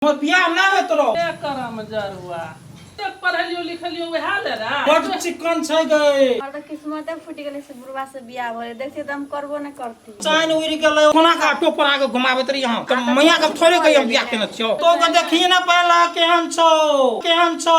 हमर बियाह ना होत रहो के करम जरुआ एक पढ़लियो लिखलियो वएह ले रा बड चिकन छै गए और तो किस्मते फूट गेले से बुढ़वा से बियाह होले देखते तो हम करबो न करती चाइन उड़ गेलै कोना का ऑटो पर आके घुमाबैत रही हम त मैया के थोड़े कहियो बियाह केने छियो तो के देखिए ना पाला केहन छौ केहन छौ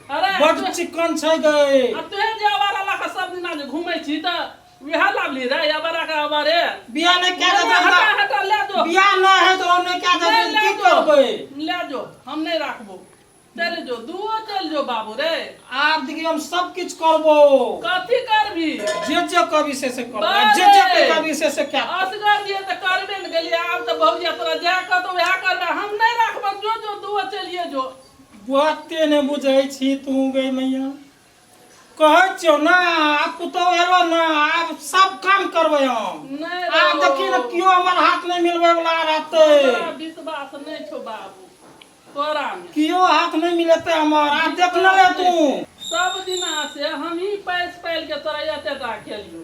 अरे बड तू- चिकन छै गए आ तोहे जे अबारा लऽ कऽ सब दिना जे घूमै छी तऽ वएह लाभली रे अबारा के अबारे बियाह नहि कए हटा देबै हटा ले जो बियाह नहि है तो हम नहि कए देबै ले की जो करबै ले जो हम नहि राखबो चल जो दुओ चल जो बाबू रे आब देखियौ हम सब किछु करबो कथी करबी जे जे कवि से से करबो बारे! जे जे के कवि से से कए असगर दिए तऽ करबे ने गेलियै आब तऽ भौजिया तोरा जएह कहतौ वएह करबै हम नहि राखबो जो जो दुओ चलिए जो बाते नहि बुझै छी तू गई मैया कहै छियौ ने आब पुतहु एलो ने आब सब काम करबै हम नहि रौ। आब देखी ने केओ हमर हाथ नहि मिलबै वाला रहतै हमरा विश्वास नहि छौ बाबू तोरा मे केओ हाथ नहि मिलेतै हमर आब देखने रह तू सब दिना से हमही पैस पालि के तोरा एते टा केलियौ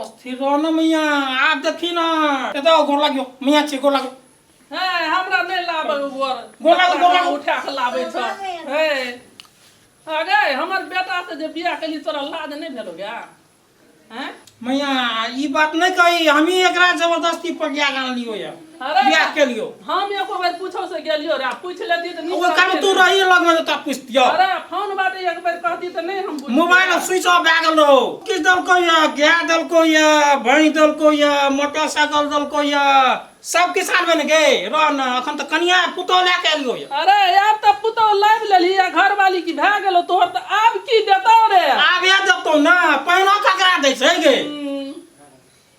अस्थिर रह ना मैया आप देखी ना ए तो गोर लागियो मैया छे गोर लागियो हे हमरा नहीं लाबे गोर गोर लागो, गोर लागो। उठा के लाबे छ हे अरे हमर बेटा से जे बियाह केली तोरा लाज नहीं भेलो गे हैं मैया ई बात नहीं कही हम ही एकरा जबरदस्ती पटिया गान लियो या अरे बियाह के लियो हम एको बेर पूछो से गेलियो रे पूछ लेती त वो काम तू रही लग में तो पूछ दियो अरे फोन बाटे एक बेर कहती त नहीं हम बुझ मोबाइल स्विच ऑफ भए गेल रहो किस दल को या गया दल को या भई दल को या मोटरसाइकिल दल को या सब किसान बन गए रह न अखन त कनिया पुतो ले के लियो या अरे यार त पुतो लाइव लेली या घर वाली की भए गेलो तोहर त आब की देता रे आब ये जब तो ना पहिनो ककरा दै छै गे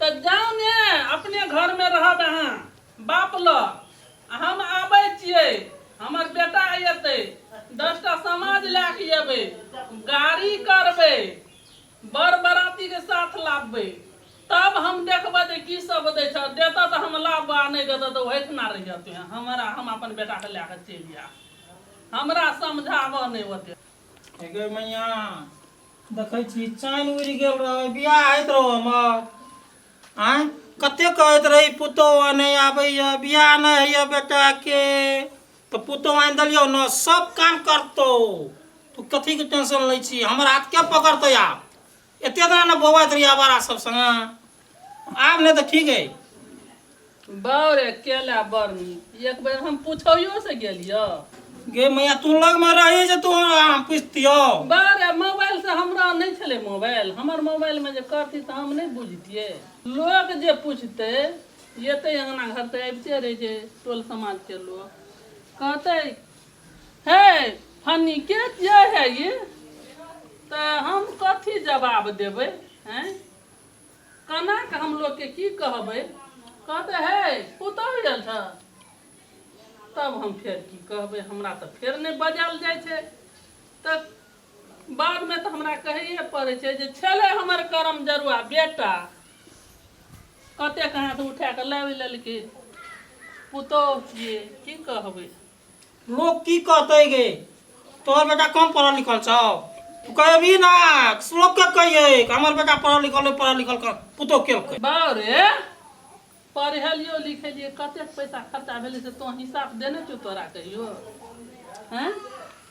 त जाउ ने अपने घर मे रहब अहाँ बाप ल हम आबै छियै हमर बेटा एतै दस टा समाज लए क एबै गाड़ी करबै बर बराती के साथ लाबबै तब हम देखबै जे की सब दै छ देतऽ त हम लाबऽ आ नै देतऽ त ओहिठना रहिहऽ तों हमरा हम अपन बेटा के लए क चलि आयब हमरा समझाबऽ नै ओते हे गै मैया देखै छी चैन उड़ि गेल रहै बियाह होइत रहौ हमर आँय कते कहैत रही पुतोह नहि आबैए बियाह नहि होइए बेटाके तऽ पुतोह आनि देलियौ ने सब काम करतौ तू कथीके टेंशन लै छी हमर हाथ के पकड़तै आब एते दिना ने बौआइत रही आवारा सब सङ्गे आब नहि तऽ ठीक है बाउ रे केला बड़ नीक एक बेर हम पुछैयो से गेलियो गे मैया तू लग में रही जे तू हम पुछतियो बाउ रे मोबाइल से हमरा नहीं छले मोबाइल हमर मोबाइल में जे करती तऽ हम नहीं बुझतिये लोग जे पूछते येते अंगना घर तऽ अबिते रहे जे टोल समाज के लोग कहते हे फनी के जे है ये तऽ हम कथी जवाब देबै हैं कनाक हम लोककेँ की कहबै? कहतै, हे, पुतहु आयल छह। तब हम फेर की कहबै? हमरा तँ फेर नहि बजायल जाइ छै। तँ बादमे तँ हमरा कहैए पड़ै छै जे छेलै हमर करमजरुआ बेटा। कतेक हाथ उठा कऽ लाबि लेलकै। पुतहु छियै, की कहबै? लोग की कहते गे तोहर बेटा कम पढ़ल लिखल छौ तू कहबी ना लोग के कहिए कि हमर बेटा पढ़ल लिखल है, पढ़ल लिखल कर पुतो केलकै बाउ रे पढ़ेलियो लिखेलिए कतेक पैसा खर्चा भेलै से तो हिसाब देने छौ तोरा कहियो हैं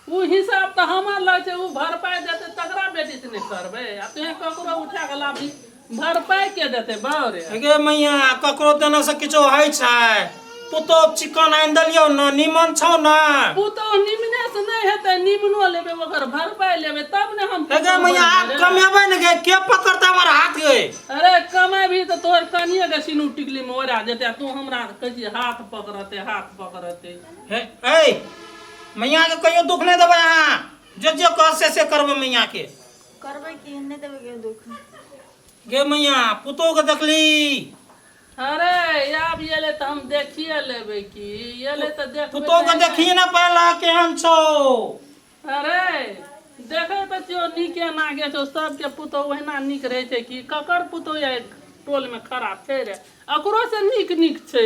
ओ हिसाब तऽ हमर लग छै ओ भरपाइ देतै तकरा बेटी से नहि करबै आ तुहें ककरो उठा कऽ लाबी भरपाइ के देतै बाउरे गे मैया ककरो देने से किछो होइ छै पुतोह चिकन आनि देलियौ ने नीमन छौ ने पुतोह निमने से नहि हेतै निमनो लेबै ओकर भरपाइ लेबै तब ने हम गे मैया आब कमेबै ने गे के पकड़तै हमर हाथ गे अरे कमेबही तऽ तोहर कनिए के सिनू टिकली मे ओरा जेतै आ तू हमरा कहै छी हाथ पकड़ते हाथ पकड़ते हे ए मैया के कहियो दुख नहीं देवे अहाँ जो जो कह से से करबे मैया के करबे की नहीं देवे के दुख गे मैया पुतो के देखली अरे आब ये ले तो हम देखिए लेबे की ये ले तो देख पुतो के देखिए ना पहला केहन छो अरे देखे तो जो नीके नागे छो सबके पुतो ओहिना नीक रहे छे की ककर पुतो ये टोल में खराब छे रे अकरो से नीक नीक छे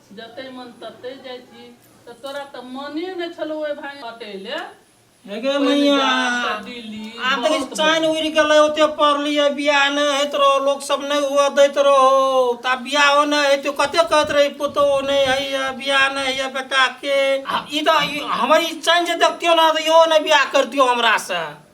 जतै मन ततै जाइ छी तऽ तोरा तऽ मने नहि छलौ ओहि भाइ हटै ले हेगे मैया आब तऽ चैन उड़ि गेलै ओते पढ़लियै बियाह नहि होइत रहो लोक सब नहि हुआ दैत रहो तऽ आब बियाहो नहि होइत कते कहैत रही पुतो नहि होइए बियाह नहि होइए बेटाके ई तऽ हमर ई चैन जे देखतियो ने तऽ इहो नहि बियाह करतियो हमरासँ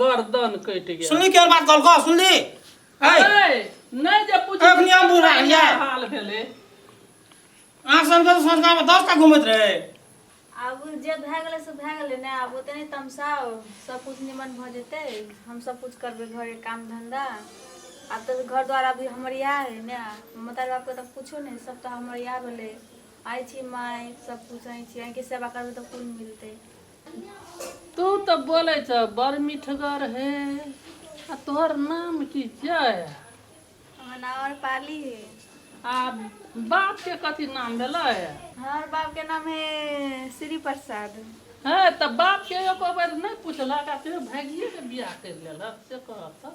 गर्दन कटि गेल सुनली केहन बात कहलको सुनली ऐ ऐ, नहि जे पूछी एखन हम बुढ़ा केना गेलियै। हाल भेलै आँख सन के संस्कार में दस टा घूमत रहे आब जे भए गेलै से भए गेलै ने आब ओते नहि तमसाओ सब कुछ निमन भऽ जेतै हम सब कुछ करबै घरे काम धंधा आब तऽ घर द्वार अभी हमर इएह है ने माता बापके तऽ कुछो नहि सब तऽ हमर इएह भेलै आइ छी माय सब कुछ आइ छी आइ के सेवा करबै तऽ कुल मिलतै तू तऽ बोलै छ बड़ मिठगर हे आ तोहर नाम की छै हमर नाम और पाली है आ बाप के कथी नाम भेलै हमर बाप के नाम है श्री प्रसाद हे तऽ बाप के एको बेर नहि पुछलक आ तू भागिए के बियाह करि लेलक से कहत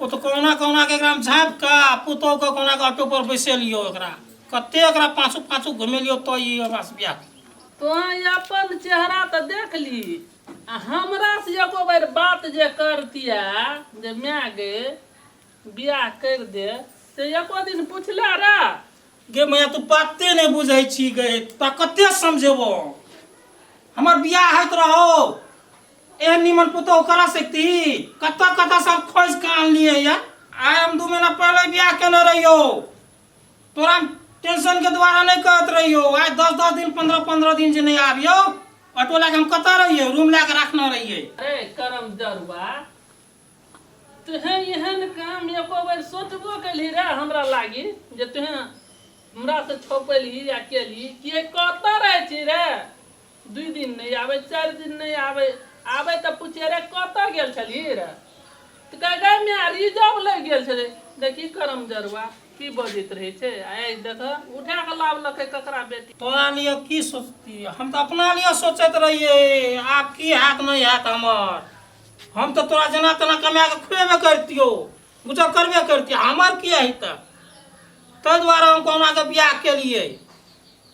ओ तऽ कहुना कहुनाके एकरा झाँप कऽ आ पुतहुके कहुनाके ऑटो पर बैसेलियौ एकरा कते एकरा पाछू पाछू घुमेलियौ तो ई हमरासँ बियाह तोँ अपन चेहरा तऽ देख ली आ हमरासँ एगो बेर बात जे करतिया जे माय गे बियाह करि दे से एको दिन पुछले रह गे मैया तू बाते नहि बुझै छी गे तोरा कते समझेबो हमर बियाह होइत रहौ ए निमन पुतोह करा सकती कत्ता कत्ता सब खोज के आनलिए या आय हम दू महीना पहले ब्याह केने रहियो तोरा टेंशन के द्वारा नहीं कहत रहियो आय दस दस दिन पंद्रह पंद्रह दिन से नहीं आबियो ऑटो लगा हम कत्ता रहियो रूम लगा रखना रहिए अरे करम जरुआ तुहे एहन काम एको बेर सोचबो केलही रे हमरा लागी जे तुहे हमरा से छोपेलही या केलही कि कत्ता रहै छी रे दुइ दिन नहि आबै चारि दिन नहि आबै आबै तऽ पूछिए रे कतऽ गेल छलिए रे तऽ कहै गै माय रिजर्व लागि गेल छलै देखी करम जरुआ की बजैत रहै छै आइ देख उठा कऽ लाबलकै ककरा बेटी तोरा लिए की सोचतियै हम तऽ अपना लिए सोचैत रहियै आब की हैत नहि हैत हमर हम तऽ तोरा जेना तेना कमा कऽ खुएबे करितियौ गुजर करबे करितियै हमर की हेतै ताहि दुआरे हम कहुनाके बियाह केलियै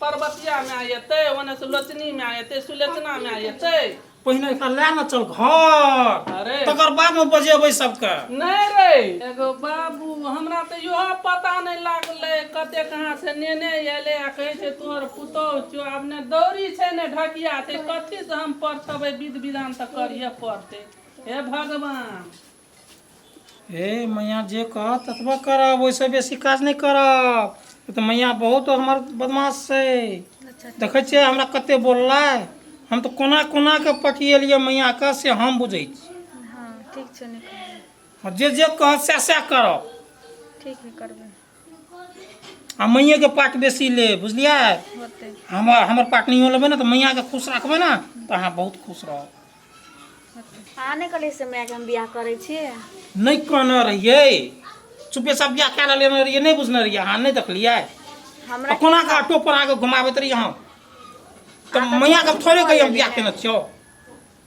परबतिया माय एतै ओने से लोचनी माय एतै सुलोचना माय एतै पहिने एकरा लए न चल घर अरे तकर बाद में बजेबै सबके नहीं रे एगो बाबू हमरा तो यो पता नहीं लागले कते कहाँ से नेने एले आ कहे छे तोहर पुतौह छो आब ने दौरी छे ने ढकिया छे कथी से हम पढ़तबे विध विधान तो करिए पड़ते हे भगवान हे मैया जे कहत ततबा करब ओहिसँ बेसी काज नहि करब ई तऽ मैया बहुत हमर बदमाश छै देखै छियै हमरा कते बोललै हम तऽ कोना कोना कऽ पटिएलियै मैयाके से हम बुझै छी हँ ठीक छै नहि करबै आ जे जे कहत सएह सएह करब ठीक नहि करबै आ मैयाके पार्ट बेसी ले बुझलियै होतै हमर हमर पार्ट नहियो लेबै ने तऽ मैयाके खुश रखबै ने तऽ अहाँ बहुत खुश रहब अहाँ नहि कहलियै से मायके हम बियाह करै छी नहि कहने रहियै चुपे सब बियाह कए लेने रहियै नहि बुझने रहियै अहाँ नहि देखलियै हमरा आ कोना के ऑटो पर अहाँके घुमाबैत रहियै हम तऽ मैयाके थोड़े कहियै हम बियाह केने छियौ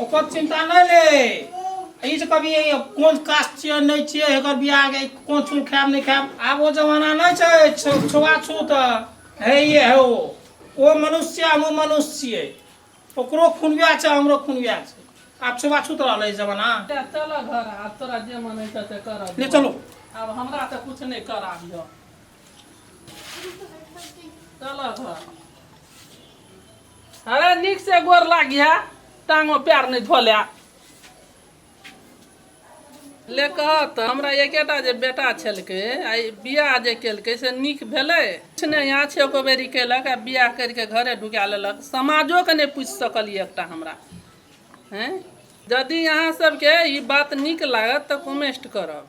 ओकर चिंता नहि ले ई जे कभी कोन कास्ट छियै नहि छियै एकर बियाह के कोन छूल खायब नहि खायब आब ओ जमाना नहि छै छो- छुआछूत हे ये हे ओ ओ मनुष्य हम ओ मनुष्य छियै ओकरो खून वएह छै हमरो खून वएह छै आब छुआछूत रहलै ई जमाना चल घर आब तोरा जे मन हेतौ से कर ले चलो आब हमरा तऽ कुछ नहि कराबिह अरे नीक से गोर लागी है टांगो प्यार नहीं धोले ले कह तो हमरा एकेटा जे बेटा छलके आई बियाह जे केलके से नीक भेलै किछु नहि यहाँ छै एको बेरी केलक आ बियाह करिके घरे ढुका लेलक समाजोके नहि पूछि सकलिए एकटा हमरा हैं जदि अहाँ सबके ई बात नीक लागत तऽ कमेस्ट करब